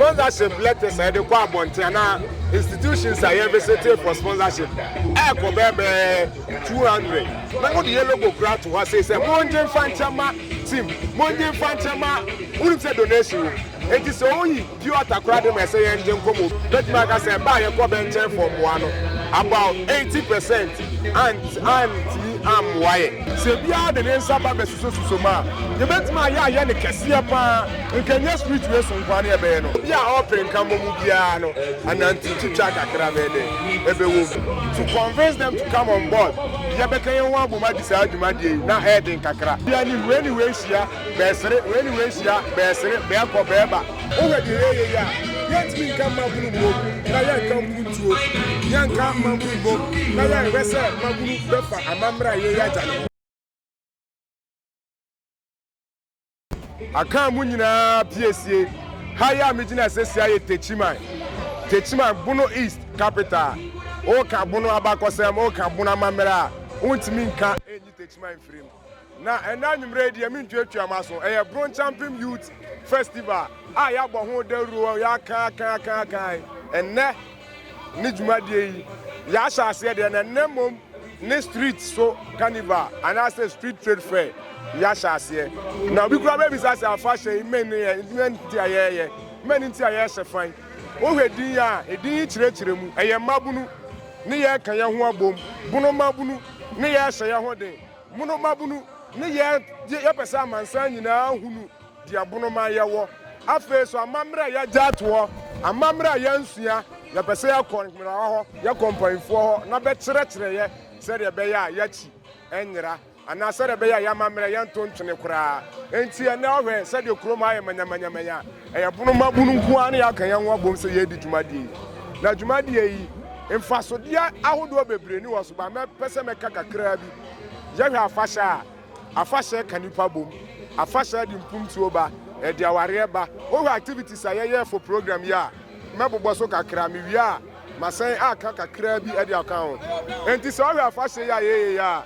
Sponsorship letters a yɛde kɔ abɔnten anaa institutions a yɛn visiting for sponsorship ɛkɔ bɛyɛ bɛyɛ two hundred na mo de yɛ logo kura to hɔ asei sɛ mo ngye nfa nkyɛ ma team mo ngye nfa nkyɛ ma wonim sɛ donation wom enti sɛ oyi pure water kura de ma ɛsɛ yɛn ngye nkɔ mo bɛtumi aka sɛ ɛbaa yɛ kɔ bɛnkyɛn fɔ mmoa no about eighty percent ant anti ammoa yɛ. Sɛ biara de ne nsa ba bɛsuso suso mu a yɛbɛtumi ayɛ ayɛ no kɛseɛ paa. Nka nyɛ street wei so nkoa ne ɛbɛyɛ no, obi a ɔpere nka mmɔ mu biara no anante twitwa kakra bɛyɛ dɛ ɛbɛwɔ mu. So convince them to come on board, yɛ bɛka yɛn ho abom adi saa dwumadie yi na ɛyɛ den kakra. Obi anim, wei ne wei hyia, bɛsere, wei ne wei hyia, bɛsere, bɛkɔ, bɛba. Wo hwɛ deɛ yɛyɛ yi a, yɛn tumi nka mmabunu mmom na yɛn nka mpuntuo, yɛn nka mmabunu mmom na yɛn hwɛ sɛ mmabunu bɛfa amammerɛ a yɛyɛ agya no ho. Akan mu nyinaa piesie. Ha yi a megyina sesia yɛ Techiman, Techiman, Bono East capital. Woka Bono abakɔsɛm, woka Bono amammerɛ a, wontumi nka nyi Techiman mfiri mu. Na ɛnnɛ anwummerɛ yi deɛ mentuatua m'aso, ɛyɛ Bronchampem Youth Festival a yɛabɔ ho dawuro, yɛakan, akan, akan, akan, ɛnnɛ. Ne dwumadie yi yɛahyɛ aseɛ deɛ na nnɛ mmom ne street so carnival anaasɛ street trade fair yɛahyɛ aseɛ na obi kura bɛbisa sɛ afahyɛ yi mmɛn ne yɛ mmɛn ti a yɛyɛ mmɛn ne ti a yɛhyɛ fan wohwɛ din a edin yi kyerɛkyerɛ mu ɛyɛ mmabunu ne yɛka yɛn ho abom bunu mmabunu ne yɛhyɛ yɛn ho den mono mmabunu ne yɛ yɛpɛ sɛ amansan nyinaa hunu de ɛbono ma yɛwɔ. Afei nso, amammerɛ a yɛagya ato hɔ, amammerɛ a yɛansua, yɛpɛ sɛ yɛkɔ nhwerawa hɔ, yɛkɔ mpanimfoɔ hɔ na bɛkyerɛkyerɛ yɛ sɛdeɛ ɛbɛyɛ a yɛakyi nyera anaa sɛdeɛ ɛbɛyɛ a yɛn amammerɛ yɛnto ntwene koraa. Enti ɛnnɛ ɔhwɛ sɛdeɛ kurom ha ayɛ manyamanyamanya a, ɛyɛ bono ma bono nko ara na yɛaka yɛn ho abom sɛ yɛredi dwumadie yi. Na dwumadie yi, mfasodeɛ ahodoɔ bebree ni wɔ so, but mɛpɛ sɛ mɛka kakraa bi. Yɛhwɛ afahyɛ a. Afahyɛ ka nipa bom. Afahyɛ ɛde mpomtuo ba, ɛde awareɛ ba. Wohwɛ activities a yɛyɛ for program yi a, mɛbobɔ so kakra, mewie a masan aka kakra bi ɛde aka ho. Enti sɛ wohwɛ afahyɛ yi a yɛyɛ yi a,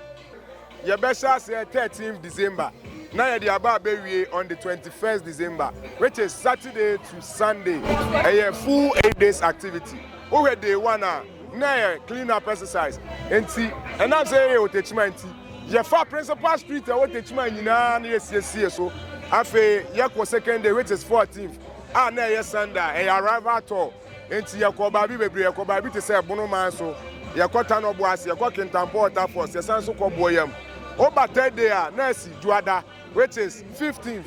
yɛbɛhyɛ aseɛ 13th December na yɛde aba abɛwie on the 21st December which is Saturday to Sunday. Ɛyɛ full eight days activity. Wohwɛ day one a, na ɛyɛ clean up exercise. Enti ɛnam sɛ yɛyɛ wɔ Techiman nti, Yɛfaa Principal Street a ɛwɔ Techiman nyinaa na yɛsiesiee so. Afei yɛkɔɔ Second Day, which is 14th, a na ɛyɛ Sunday a ɛyɛ Arrival Tour. Enti yɛkɔɔ baabi bebree. Yɛkɔɔ baabi te sɛ Bono man so, yɛkɔ Tanɔbo ase, yɛkɔ Kintampo Waterfalls, yɛsan nso kɔ Boayam. Woba Third Day a, na asi Dwoada, which is 15th,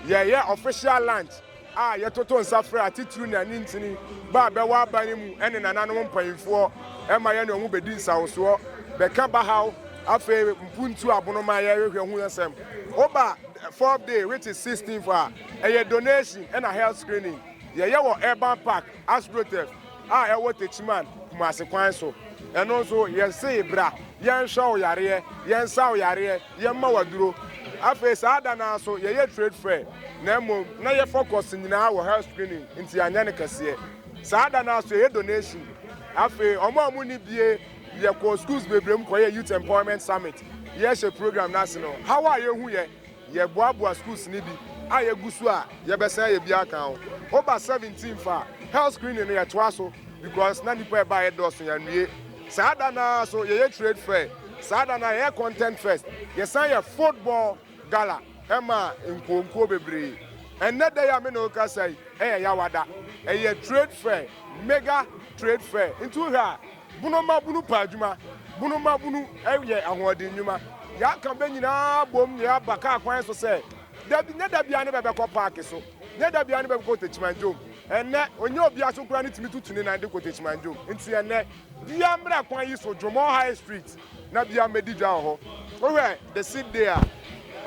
yɛyɛ official lunch. a yɛtoto nsa frɛ atitiriw ne anintini ba a bɛwɔ aban no mu ne nananom mpaimfoɔ ma yɛne wɔn bɛdi nsawosoɔ bɛka bahaw afei mpuntuo abono ma yɛhwehwɛ hu asɛm woba fourth day which is 16th a ɛyɛ donation ɛna health screening yɛyɛ wɔ urban park astroturf a ɛwɔ Techiman, Kumasi kwan so. Ɛno nso, yɛsee bra, yɛnhwɛ wo yareɛ, yɛnsa wo yareɛ, yɛmma wo aduro. Afei saa da no ara nso, yɛyɛ trade fair, na mmom na yɛ focus nyinaa wɔ health screening, nti yɛanyɛ no kɛseɛ. Saa da no ara nso, yɛyɛ donation. Afei, wɔn a wɔnni bie, yɛkɔɔ schools bebree mu kɔyɛɛ Youth Empowerment Summit. Yɛhyɛ program no ase no, haw a yɛhuiɛ. Yɛboaboa sukuu sini bi a yɛgu so a yɛbɛsan ayɛ bi aka ho. Woba seventeen fa a, health screening no yɛtoa so because na nnipa a ɛbaeɛ dɔɔso, yɛanwie. Saa da no ara nso yɛyɛ trade fair, saa da no ara yɛyɛ content fest, yɛsan yɛ football gala maa nkuo nkuo bebree. Ɛnnɛ da yi a me ne wo rekasa yi yɛ Yawa da. Ɛyɛ trade fair, mega trade fair. Nti wohwɛ a, Bunu ma bunu pɛ adwuma. Bunu ma bunu yɛ ahoɔden nnwuma. Yɛaka bɛ nyinaa abom na yɛaba kaa kwan so sɛ, da bi, nyɛ da biara ne bɛbɛkɔ paake so, nyɛ da biara ne bɛbɛkɔ Otakyimanjom. Ɛnnɛ, ɔnyɛ obiara so koraa ne tumi tutu ne nan de kɔ Otakyimanjom. Nti ɛnnɛ, biara mmra kwan yi so, Dwomɔɔ High Street. na bia mɛdi dwa wɔ hɔ. Wohwɛ the same day a,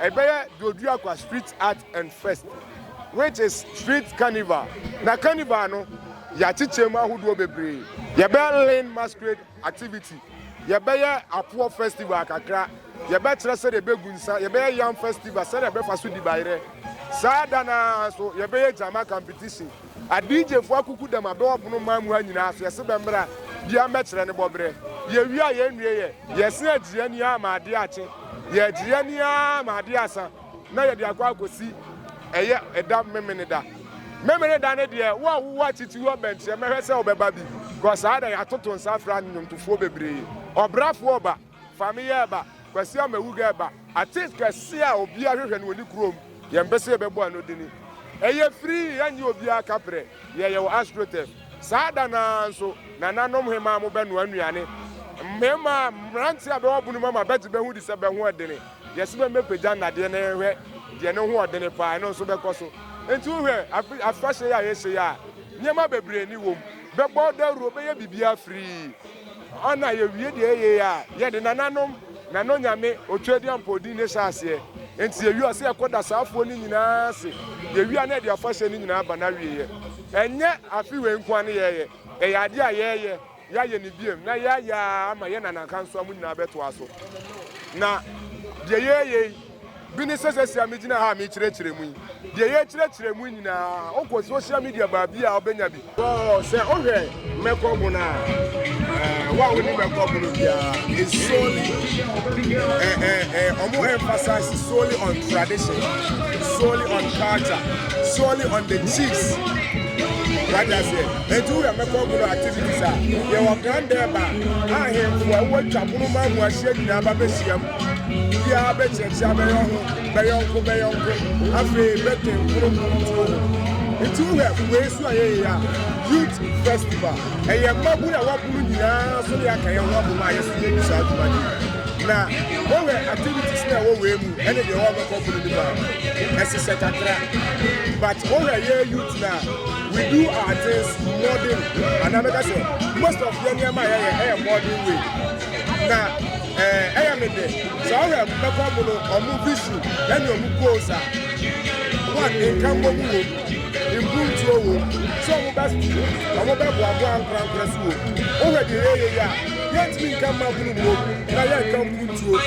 ɛbɛyɛ Doduakwa Street Art and Fest which is street carnival. Na carnival no, yɛakyekyɛ mu ahodoɔ bebree. Yɛbɛyɛ Lin masquerade activity, yɛbɛyɛ Apoɔ festival kakra, yɛbɛkyerɛ sɛdeɛ yɛbɛgu nsa, yɛbɛyɛ Yam festival, sɛdeɛ yɛbɛfa so di bayerɛ. Saa da no ara nso, yɛbɛyɛ Gyama competition. Adigyefoɔ akukudam abɛ wɔ pono mmaa mu ha nyinaa so yɛse bɛmmra bia mmɛkyerɛ ne bɔberɛ yɛwie a yɛnnueɛ yɛse agyiri ani ara ma adeɛ akye yɛagyiri ani ara ma adeɛ asa na yɛde akɔ akɔsi ɛyɛ ɛda memeneda memeneda no deɛ wo a wowɔ akyiti hɔ bɛnkyerɛ mɛhwɛ sɛ wobɛba bi kɔ saa da yɛatoto nsa afra nnwomtofoɔ bebree ɔbrafoɔ ɔba Fa me yɛ ba, Kwasi Amawuga ba. Artist kɛse a obiara hwehwɛ no wɔ ne kurom, yɛn pɛ sɛ yɛbɛbɔ ano de no. Ɛyɛ free, yɛnnye obiara kaprɛ, yɛn yɛ wɔ Astrotef. Saa da no ara nso, nananom hemaa mo bɛnoa nnuane. Mmemaa, mmerante a bɛwɔ bono mu ama bɛgye bɛ ho di sɛ bɛ ho ɛdene. Yɛse bɛ mmɛpagya nnadeɛ na yɛnhwɛ deɛ ne ho ɔdene paa, ɛno nso bɛkɔ so. Enti wo hwɛ, afe, afahyɛ yi a yɛhyɛ yi a, nneɛma bebree ne wɔ mu. Bɛbɔ dawuro, bɛyɛ biribiara free. Ana yɛwie deɛ yɛyɛ yi a, yɛde nananom, nanonyame, Otwedeampɔw din na ɛhyɛ aseɛ. Enti yɛwie a, ɔsɛ yɛkɔ da saa afoɔ no nyinaa ase. Yɛwie a, na yɛde afahyɛ no nyinaa ba n'awieɛ. Ɛnyɛ afe wei nko ara ne yɛyɛ. Ɛyɛ adeɛ a yɛyɛ, yɛayɛ no bio, na yɛayɛ ara ama yɛn nanankansowa mu nyinaa bɛtoa so. Na deɛ yɛyɛ yi. Bi ne sɛ sesia megyina ha a mekyerɛkyerɛ mu yi, deɛ yɛkyerɛkyerɛ mu nyinaa, wokɔ social media baabi a wobɛnya bi. Wɔɔ sɛ wohwɛ mɛkɔ bo no a, eh, wo a woni mɛkɔ bo no biara, it's solely, eh, eh, eh, ɔmo emphasize solely on tradition, solely on culture, solely on the chiefs. What I say? And you have mɛkɔ bo no activities a, yɛwɔ kan dɛ ba, ahemfo a wɔatwa pono ma mu ahyia nyinaa ba bɛhyiam. Obiara bɛkyerɛkyerɛ abɛyɛ ho bɛyɔnko bɛyɔnko afei bɛtwe nkoronkoro ntuo ho. Nti wohwɛ wei so a yɛyɛ a youth festival ɛyɛ mmabunu a wɔabunu nyinaa so ne yɛaka yɛn ho abom a yɛso yɛdi saa adwuma no yi. Na wohwɛ activities no a ɛwɔ wei mu ɛne deɛ wɔbɛkɔ bunu no mu a ɛhyehyɛ kakra but wohwɛ yɛ youth no a we do our things modern anaa mɛka sɛ most of yɛ nneɛma a yɛyɛ ɛyɛ modern way na Ɛɛ, ɛyɛ me dɛ sɛ ɔhwɛ mbɛkɔ mu no ɔmo visu ɛne ɔmo goals a one nkanbɔ mu wom, mpuntuo wom, sɛ ɔmo bɛ ɔmo bɛ boaboa ankorankorɛ so wom. Wohwɛ deɛ yɛyɛ yi a, yɛntumi nka mmabunu mmom na yɛnka mpuntuo,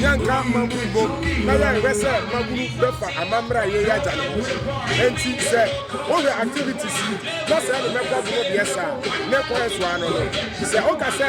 yɛnka mmabunu mmom na yɛnhwɛ sɛ mmabunu bɛfa amammerɛ a yɛyɛ agya no ho. Ɛnti sɛ wohwɛ activities yi na sɛ ɛne mɛkɔ mu no deɛ saa ne kwan so ano no, sɛ woka sɛ.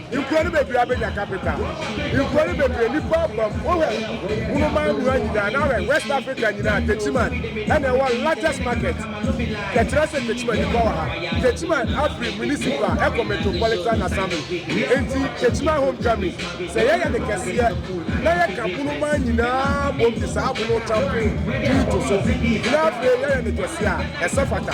Nkuro no bebree abɛnya capital. Nkuro no bebree nnipa abam. Wohwɛ Wunoman mmura nyinaa na ahwɛ West Africa nyinaa, Techiman ɛna ɛwɔ largest market. Yɛkyerɛ sɛ Techiman nnipa wɔ ha. Techiman afiri municipal ɛkɔ metropolitan assembly. Enti Techiman homecoming, sɛ yɛyɛ no kɛseɛ na yɛka Wunoman nyinaa bom de saa Wuno Champion din to so na afei yɛyɛ no kɛseɛ a, ɛsɛ fata.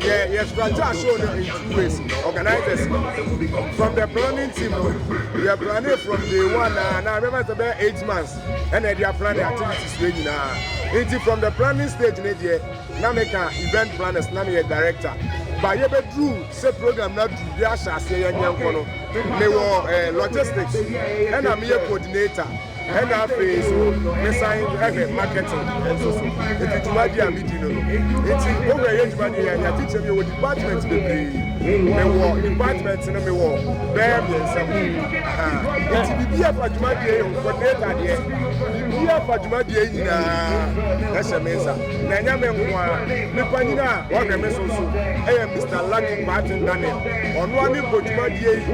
yɛ yɛ strategy aso no in two ways organizers from the planning team no yɛ planning from day one na na remember sɛ bɛyɛ eight months ɛna ɛde aplan ne activities wei nyinaa nti from the planning stage ne deɛ na meka event planners na meyɛ director ba yɛbɛduru sɛ program no aduru yɛahyɛ aseɛ yɛnyɛ nkɔ no mewɔ eh, logistics ɛna meyɛ coordinator Ɛna afei nso mesan hwɛ marketing nso so. Eti dwumadi a midi no no nti wowura yɛ dwumadi yɛ anya kyekyɛm yɛ wɔ department bebree. Mewɔ department no mewɔ bɛyɛ mmiɛnsa mu. Eti biribi a ɛfa dwumadi yɛ yɛ coordinator deɛ biribi a ɛfa dwumadi yɛ nyinaa ɛhyɛ me nsa. Na ɛnyɛ me nko ara me panyin a ɔhwɛ me so nso ɛyɛ Mister Lucky Kwarteng Daniel. Ɔno ara ne bɔ dwumadi yɛ yi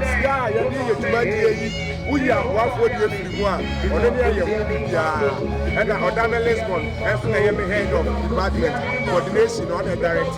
sika a yɛde yɛ dwumadi yɛ yi. Woyi aboafoɔ deɛ firi mu a, ɔno ne ɛyɛ ho biribiara. Ɛna ɔda me Lisbon nso ɛyɛ me head of department coordination na ɔna ɛdirect.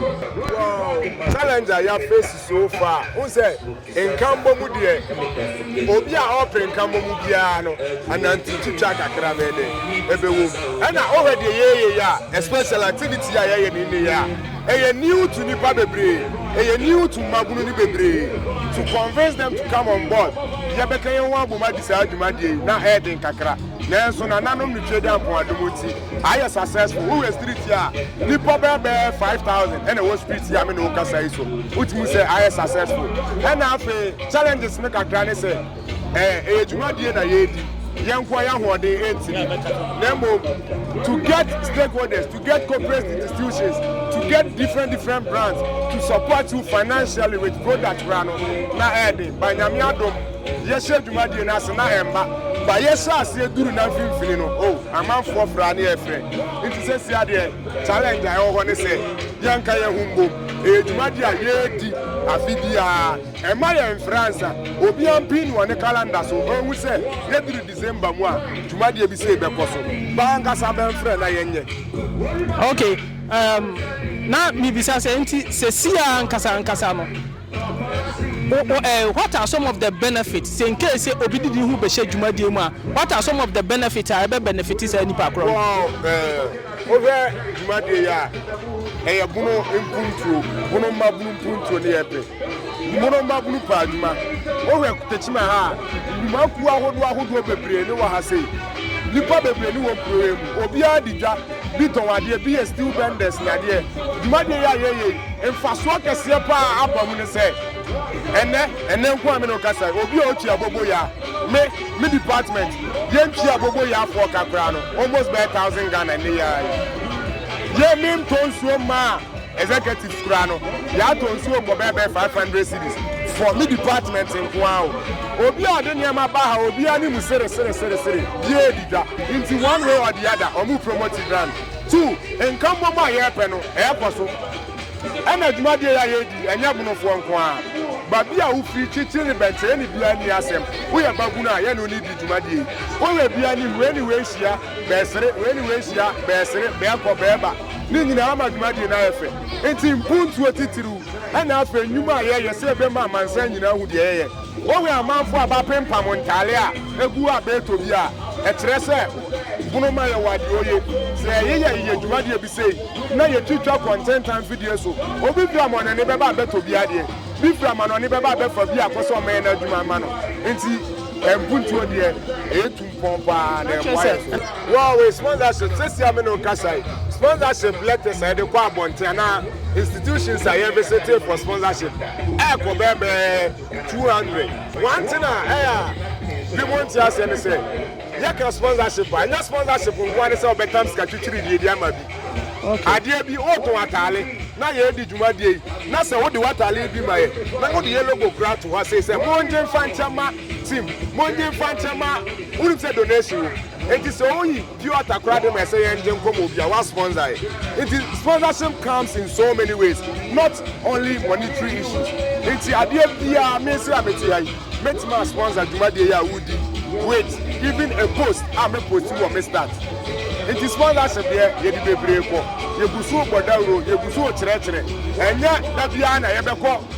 Wow! Challenge a yɛ face so far, wohu sɛ nkanbɔ mu deɛ obi a ɔɔpere nkanbɔ mu biara no anante twitwa kakra bɛyɛ dɛn ɛbɛwɔ mu. Ɛna wohwɛ deɛ yɛɛyɛ yi a especially activity yi a yɛɛyɛ no nnɛ yi a, Ɛyɛ new to nipa bebree, ɛyɛ new to mmabunu no bebree to convince them to come on board. Yɛbɛka yɛn ho abom adi saa dwumadie yi, na ɛyɛ den kakra, nanso nananom no Twede Ampɔn adom nti, ayɛ successful. Wohwɛ street yi a, nnipa bɛyɛ bɛyɛ five thousand na ɛwɔ street yi a me ne wo kasa yi so. Wotumi hu sɛ ayɛ successful. Ɛna afei challenges no kakra ne sɛ, ɛɛ, ɛyɛ dwumadie na yɛredi, yɛn nkoa yɛn ahoɔden ɛntumi, na mmom to get stakeholders, to get corporate institutions, to get different different brands to support you financially with product koraa no, na ɛɛden, ba nyame adom, yɛhyɛ dwumadie no ase na ɛmma, ba yɛhyɛ aseɛ duru na mfimfini no, oh, amanfoɔ fra ne ɛfrɛ, nti sɛsi adeɛ challenge a ɛwɔ hɔ ne sɛ, yɛnka yɛn ho mbom, ɛyɛ dwumadie a yɛredi afe biara. Mma yɛmfra nsa. Obiara mpin no wɔ ne kalanda so nhu sɛ yɛduru December mu a, dwumadie bi sei bɛkɔ so. Bɛ ankasa bɛmfrɛ na yɛnyɛ. Ok, um, na mebisa sɛ, nti sesie ara ankasa ankasa no, wo, wo, eh, what are some of the benefits? Sɛ nkei sɛ obi de ne ho bɛhyɛ dwumadie mu a, what are some of the benefits a ɛbɛ benefit saa nipa korɔ no? Wɔɔ, eh, wohwɛ dwumadie yi a, ɛyɛ bono mpuntuo, bono mmabunu mpuntuo ne yɛpɛ. Mono mmabunu paa adwuma. Wohwɛ Tekyima ha a, nnwumakuo ahodoɔ ahodoɔ bebree ne wɔ ha sei. Nnipa bebree ne wɔ kuro yi mu. Obiara di dwa, bi tɔn adeɛ, bi yɛ steel benders ne adeɛ. Dwumadie yi a yɛyɛ yi, mfasoɔ kɛseɛ paa aba mu ne sɛ, ɛnnɛ, ɛnnɛ nko a me ne wo kasa yi, obi a ɔtwi abobo ya, me, me department, yɛntwi abobo yafoɔ ka koraa no, almost bɛyɛ thousand Ghana nnɛ yi ara yi. Yɛ, mentɔ nsuo mmaa Executives koraa no yɛatɔ nsuo bɔ bɛɛ bɛɛ five hundred cedis for me department nkoaa o. Obi a ɔde nneɛma ba ha obi ani mu sere sere sere sere biaa di dwa nti one way or the other ɔmo promote grand two nkammom a yɛɛpɛ no ɛɛkɔ so ɛna dwumadie yi a yɛɛdi ɛnyɛ bonofoɔ nkoaa babi a wofiri kyekye ne bɛnkyɛɛ ne biaa nni asɛm woyɛ babunu a yɛne wo ne di dwumadie yi woyɛ biaa ne hu anyway hyia bɛresere, wei ne wei hyia, bɛresere, bɛrekɔ, bɛreba. Ne nyinaa ama dwumadie no ayɛ fɛ. Nti mpuntuo titiriw ɛna afei nnwuma a yɛyɛ sɛ yɛbɛma amansan nyinaa ahu deɛ yɛyɛ. Wowe amanfoɔ a bɛapempam ntaale a ɛgu a bɛretɔ bi a, ɛkyerɛ sɛ bono ma yɛwɔ adeɛoye. Sɛ yɛyeyɛ yɛ dwumadie bi sei na yɛtwitwa kɔ ntentan mfidie so, obi firi amanɔne bɛba a bɛtɔ bi adeɛ, bi firi amanɔne bɛba a bɛfa bi akɔ sɛ wɔmmɛyɛ no adwuma mma no. Nti mpuntuo deɛ ɛyɛ tum. Pɔn paa na ɛboa yɛn so. Wow wei sponsorship sɛsi a me ne wo kasa yi sponsorship letters a yɛde kɔ abɔnten anaa institutions a yɛn visitee for sponsorship ɛɛkɔ bɛɛbɛɛ 200 one thing a ɛyɛ a bi mo nte aseɛ ne sɛ yɛka sponsorship a ɛnyɛ sponsorship nkoa ne sɛ wɔbɛtam sika twitwiri deɛ di ama bi adeɛ bi wotɔn ataale na yɛredi dwumadie yi na sɛ wode w'ataale bi ma yɛ na wode yɛ logo kura to hɔ sei sɛ mongye mfa nkyɛ ma Tim, mongye mfa nkyɛ ma wonim sɛ donation wom. Enti sɛ woyi pure water koraa de ma ɛsɛ yɛn gye nkɔmmɔ obi a wa sponsor yɛ. Enti sponsorship comes in so many ways not only monetary issues. Enti adeɛ biara me nso a mete ha yi mɛtumi a sponsor dwumadie yi a woredi yi with even a post a me post wɔ me stats. Enti sponsorship deɛ yɛde bebree kɔ. Yɛgu so bɔ dawuro, yɛgu so kyerɛkyerɛ. Ɛnyɛ da biara na yɛbɛkɔ.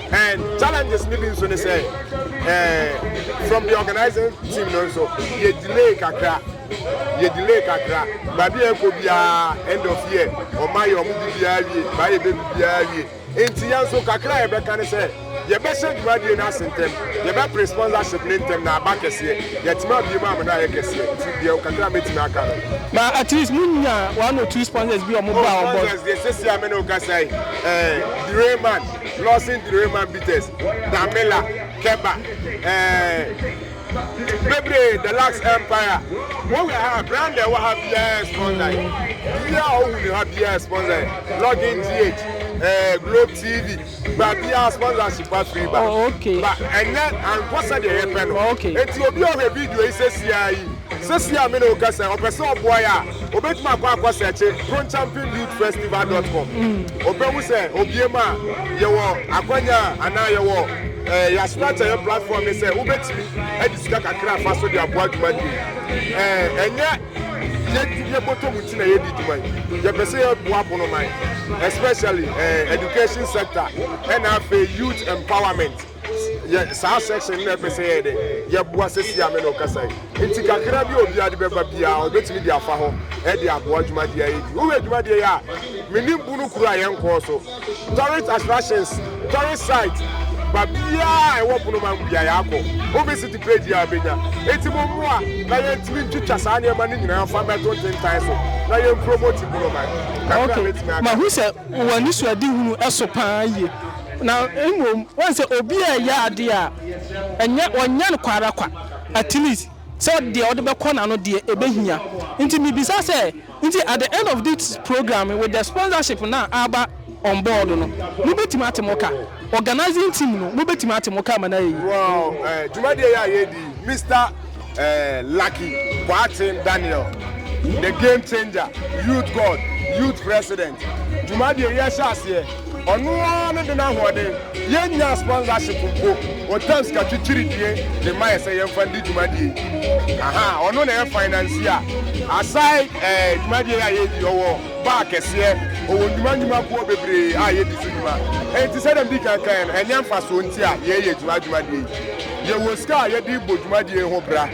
And challenges ni bi nso ne sɛ eh, from the organizing team no nso yɛ delay kakra yɛ delay kakra baabi a ɛkɔ biara end of year ɔma yɛ ɔmo de biara wie baa yɛ bɛ bi biara wie nti yɛn nso kakra a yɛbɛka ne sɛ yɛbɛhyɛ dwumadie no ase ntɛm yɛbɛpere sponsorship ne ntɛm na aba kɛseɛ yɛtumi abie mu amena ayɛ kɛseɛ nti deɛ kakra a mɛtumi aka no na at least mo nya one or two sponsors bi ɔmo ba ɔmo bɔ. sponsors deɛ sisi a mene okasa yi ɛɛ eh, Direman Lawson Therema Bitters, Damela, Keba, eh, bebree, The Lux Empire. Wohwɛ ha, brand ɛwɔ ha biara sponsor yi. Biribi a wohu ne ha biara sponsor yi. Login GH, eh, Globe TV, ba biara sponsorship afiri ba. Oh, okay. Ba ɛnyɛ ankɔ sɛdeɛ yɛpɛ no. Okay. Enti obi a ɔhwɛ video yi sɛsia yi, sɛsia me na wokasa, ɔpɛ sɛ ɔboa yɛ a, Obetumi akɔ akɔsɛɛkye kronchampingdudefestival dɔt kɔm. Obehu sɛ obiem a, yɛwɔ akwanya a anaa yɛwɔ ɛɛ yɛasoma akyɛ yɛn platform no sɛ wobetumi de sika kakra afa so de aboa dwuma no yi. Ɛɛ ɛnyɛ yɛdi yɛbɔtɔ mu nti na yɛdi dwuma yi. Yɛpɛ sɛ yɛboa bonoman especially ɛɛ education sector ɛna afei youth empowerment. yɛ saa section no na ɛpɛ sɛ yɛyɛ dɛ yɛboa sɛsi a me na ɔkasa yi nti kakra bi a obiara de bɛba biara ɔbɛtumi de afa hɔ ɛde aboa dwumadeɛ a yɛdi wohwɛ dwumadeɛ yi a menim bu no kuro a yɛnkɔɔ so tourist attractions tourist site ba biara a ɛwɔ ponoma mu biara yɛakɔ wobɛsiti page yi a bɛnya ɛti mo mmoa na yɛntumi ntwitwa saa nneɛma no nyinaa fa mmɛto ntentan so na yɛmpromoti ponoma kakra bɛtumi aka mahu sɛ wɔ anisoadehunu so paa yie, na mmom woahu sɛ obi a ɛyɛ adeɛ a ɛnyɛ ɔnyɛ no kwa ara kwa, at least sɛ deɛ ɔde bɛkɔ n'ano deɛ ɛbɛhia. Nti mebisa sɛ, nti at the end of this programme with the sponsorship no a aba on board no, mobɛtumi ate mo ka? Organising team no mobɛtumi ate mo ka ma no ayɛ yie? Wɔ dwumadie yi a yɛredi yi, Mister. eh, Lucky Boateng Daniel, the game changer, youth god, youth president. Dwumadie yɛ hyɛ aseɛ. Ɔno ara ne de n'ahoɔden. Yɛn nya sponsorship mpo. Ɔtam sika kyikyiri die de ma yɛ sɛ yɛn fa ndi dwumadie. Aha, ɔno na yɛ finance a. Aside eh, dwumadie a yɛ di, ɔwɔ bar kɛseɛ, ɔwɔ nnwuma nnwuma boɔ bebree a yɛ di so dwuma. Enti sɛdeɛ medi kan kan yɛ no, ɛnyɛ mfasoɔ nti a yɛ yɛ dwuma dwumadie yi. yɛwɔ sika a yɛde rebɔ dwumadie yi ho bra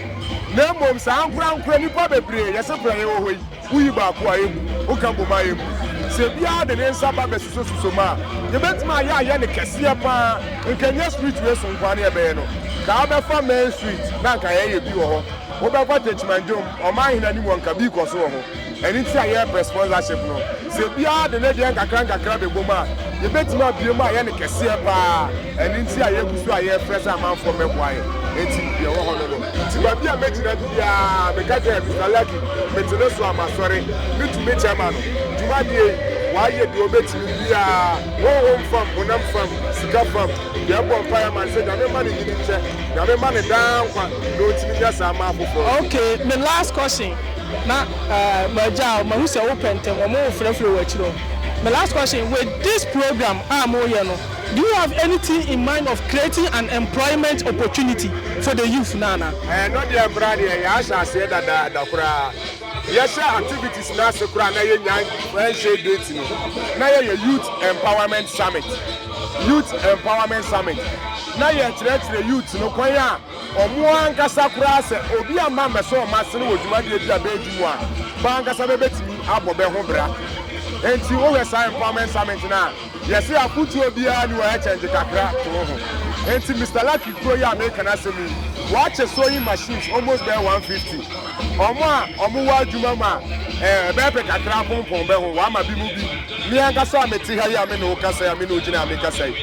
na mmom saa ankorankorɛ nnipa bebree yɛse bra yɛwɔ hɔ yi woyi baako a ɛmmu woka bom a ɛmmu sɛ biara de ne nsa ba bɛsusosuso mu a yɛbɛtumi ayɛ ayɛ ne kɛseɛ paa nka nyɛ street wei so nkoa ne ɛbɛyɛ no kaa bɛfa main street na nka yɛyɛ bi wɔ hɔ wobɛkɔ techimanjom ɔman hene anim wɔ nka bi kɔ so wɔ ho Ɛno nti na yɛrebrɛ sponsorship no. Sɛ obiara de ne deɛ nkakrankakra bɛbom a, yɛbɛtumi abue mu ayɛ no kɛseɛ pa ara. Ɛno nti a yɛgu so a yɛrefrɛ sɛ amanfoɔ mmɛboa yɛn. Enti deɛ ɛwɔ hɔ no no. Nti baabi a mɛgyina biara, meka sɛ, Mister Larkin, mete ne so a masɔre. Me tumi kyɛ ma no. Dwumadie yi, wayɛ deɛ ɔbɛtumi biara, honhom fam, honam fam, sika fam. Yɛn bɔ mpaeɛ ma no sɛ Nyame mma no nyini nkyɛ. Nyame mma no daa nkwa na ɔntumi nyɛ saa mma afoforɔ nso. Okay, me last question. Na m'agya o, mahu sɛ wopɛ ntɛm, wɔn wo frɛfrɛ wɔ akyire o. My last question, with this program a moreyɛ no, do you have anything in mind of creating an employment opportunity for the youth no anaa? Ɛno deɛ mmra deɛ yɛahyɛ aseɛ dadaada koraa. Yɛhyɛ activities no ase koraa na yɛnnya nhyɛɛ date no, na yɛyɛ youth empowerment summit, youth empowerment summit, na yɛkyerɛkyerɛ youth no kwan a Wɔn ankasa koraa, sɛ obi amma ammɛsɔ wɔn asene wɔ dwumadie bi a bɛredi mu a, bɛ ankasa bɛbɛtumi abɔ bɛ ho bra. Enti wohwɛ saa empowerment summit no a, yɛse afotuo biara nni hɔ, ɛkyɛngye kakra to wo ho. Enti Mister Lucky kuro yi a meeka n'asɛm yi, wɔakyɛ sewing machines almost bɛyɛ 150. Wɔn a wɔwɔ adwuma mu a ɛbɛyɛ pɛ kakra apompɔn bɛ ho, wɔama binom bi. Me ankasa a mete ha yi a me ne wo kasa yi a me ne wo gyina ha me kasa yi,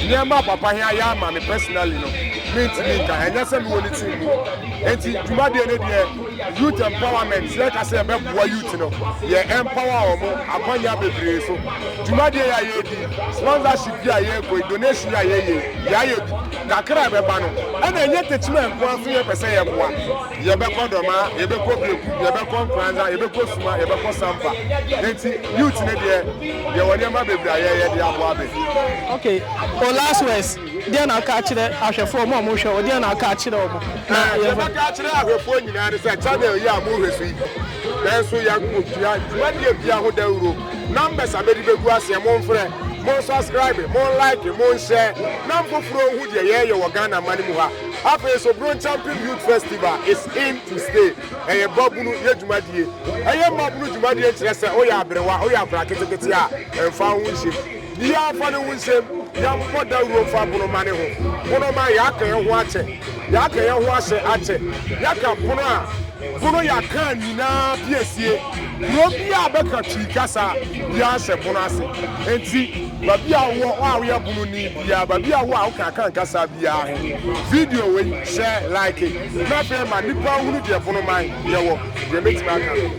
nneɛma a papa he ayɛ ama me personally no, me ntumi nka he, nyɛ sɛ me wɔ ne team mu. Nti dwumadie no deɛ youth empowerment, yɛ ka sɛ yɛ bɛ boa youth no, yɛ empower ɔmo akwanya bebree so. Dwumadie yi a yɛ di yi, sponsorship yi a yɛ kɔ yi, donation yi a yɛ yɛ yi, yɛ ayɛ bi. Kakra a ɛbɛ ba no, ɛna ɛnyɛ Techiman nko ara so yɛ pɛ sɛ yɛ boa. Yɛbɛkɔ Dɔmaa, yɛbɛkɔ Beku, yɛbɛkɔ Nkoranza, yɛbɛkɔ Suma, yɛbɛkɔ Sampa. Enti youth no deɛ, yɛwɔ nneɛma bebree a yɛyɛ de aboa bɛ. Ok, wo last words, deɛn na woka akyerɛ ahwɛfoɔ, wɔn a wɔhwɛ wo, deɛn na woka akyerɛ wɔn? Na Ɛɛ, deɛ yɛmfa mɛka akyerɛ ahwɛfoɔ nyinaa ne sɛ, channel yi a mohwɛ so yi, nanso yɛatua dwumadie biara ho dawuro. Numbers a mɛde bɛgu aseɛ, momfrɛ, monsubscribe, monlike, monhyɛ, na mfoforɔ nhu deɛ yɛreyɛ wɔ Ghana mma no mu ha. Afei nso Bronschampin Youth Festival is in to stay, ɛyɛ babunu yɛ dwumadie. Ɛyɛ mmabunu dwumadie nkyerɛ sɛ woyɛ aberewa, woyɛ akwadaa ketekete a, mfa wo ho nhyem. Biaa mfa ne ho nhyem, yɛmmɔ dawuro mfa bonoma ne ho. Bonoma, yɛaka yɛn ho akyɛ, yɛaka yɛn ho ahyɛ akyɛ, yɛaka pono a. Bono ya kan nyinaa piesie kuro bi a bɛka Twi kasa bia hyɛ Bono ase. Enti babi a wowɔ hɔ a woyɛ Bono ni bia, babi a wowɔ a woka Akan kasa biaa he, video wei hyɛ like na afei ma nnipa nhunu deɛ Bono man yɛwɔ, deɛ mɛtumi aka.